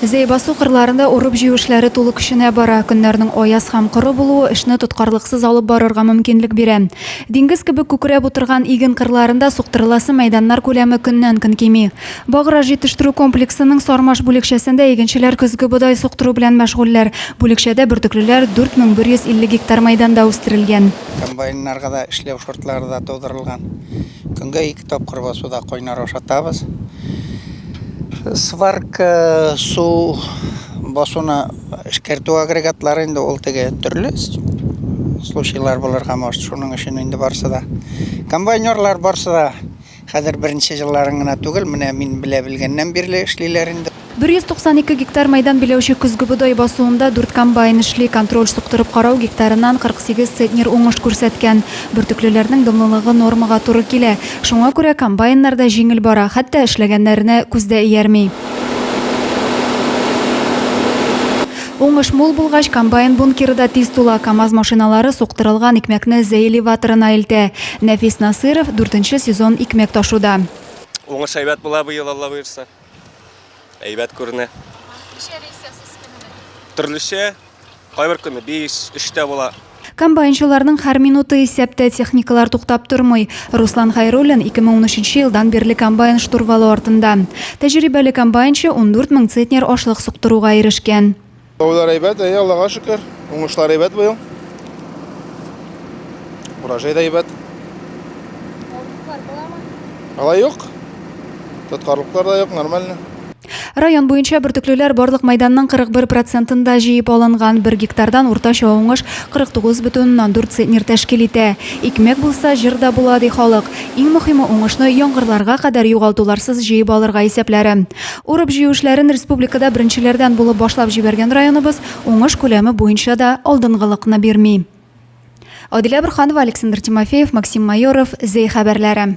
Зәй басу кырларында урып-җыю эшләре тулы көченә бара. Көннәрнең аяз һәм коры булуы эшне тоткарлыксыз алып барырга мөмкинлек бирә. Диңгез кебек күкрәп утырган иген кырларында суктырыласы мәйданнар күләме көннән-көн кими. Баграж җитештерү комплексының Сармаш бүлекчәсендә игенчеләр көзге бодай суктыру белән мәшгульләр. Бүлекчәдә бөртеклеләр 4150 гектар мәйданда үстерелгән. Комбайннарга да эшләү шартлары да тудырылган. Көнгә ике тапкыр басуда кайнар ашатабыз. Сварка су басуны эшкәртү агрегатлары инде ул теге төрле случайлар булырга может шуның өчен инде барсы да комбайнерлар барсы да хәзер беренче җылларын гына түгел менә мин белә белгәннән бирле эшлиләр инде 192 гектар мәйдан биләүче көзге бодай басуында дүрт комбайн эшли. Контроль суктырып карау гектарыннан 48 центнер уңыш күрсәткән. Бөртеклеләрнең дымлылыгы нормага туры килә. Шуңа күрә комбайннар да җиңел бара, хәтта эшләгәннәренә күз дә иярми. Уңыш мул булгач, комбайн бункеры да тиз тула, КАМАЗ машиналары суктырылган икмәкне зәй элеваторына илтә. Нәфис Насыйров, дүртенче сезон икмәк ташуда. Уңыш әйбәт була быел, Алла боерса. Әйбәт күренә. Ничә рейс ясыйсыз көненә? Төрлечә. Кайбер көнне 5, 3 тә була. Комбайнчыларның һәр минуты исәптә, техникалар туктап тормый. Руслан Хәйруллин 2013 елдан бирле комбайн штурвалы артында. Тәҗрибәле комбайнчы 14 мең центнер ашлык суктыруга ирешкән. Җәүләр әйбәт, әйе, Аллага шөкер. Уңышлар әйбәт быел. Урожай да әйбәт. Тоткарлыклар буламы? Алай юк. Тоткарлыклар да юк, нормально. Район буенча бөртеклеләр барлык майданның 41 процентында җыеп алынган. Бер гектардан уртача уңыш 49,4 центнер тәшкил итә. Икмәк булса, җыр да була, ди халык. Иң мөһиме, уңышны яңгырларга кадәр югалтуларсыз җыеп алырга исәпләре. Урып-җыю эшләрен республикада беренчеләрдән булып башлап җибәргән районыбыз уңыш күләме буенча да алдынгылыкны бирми. Адилә Борһанова, Александр Тимофеев, Максим Майоров, Зәй хәбәрләре.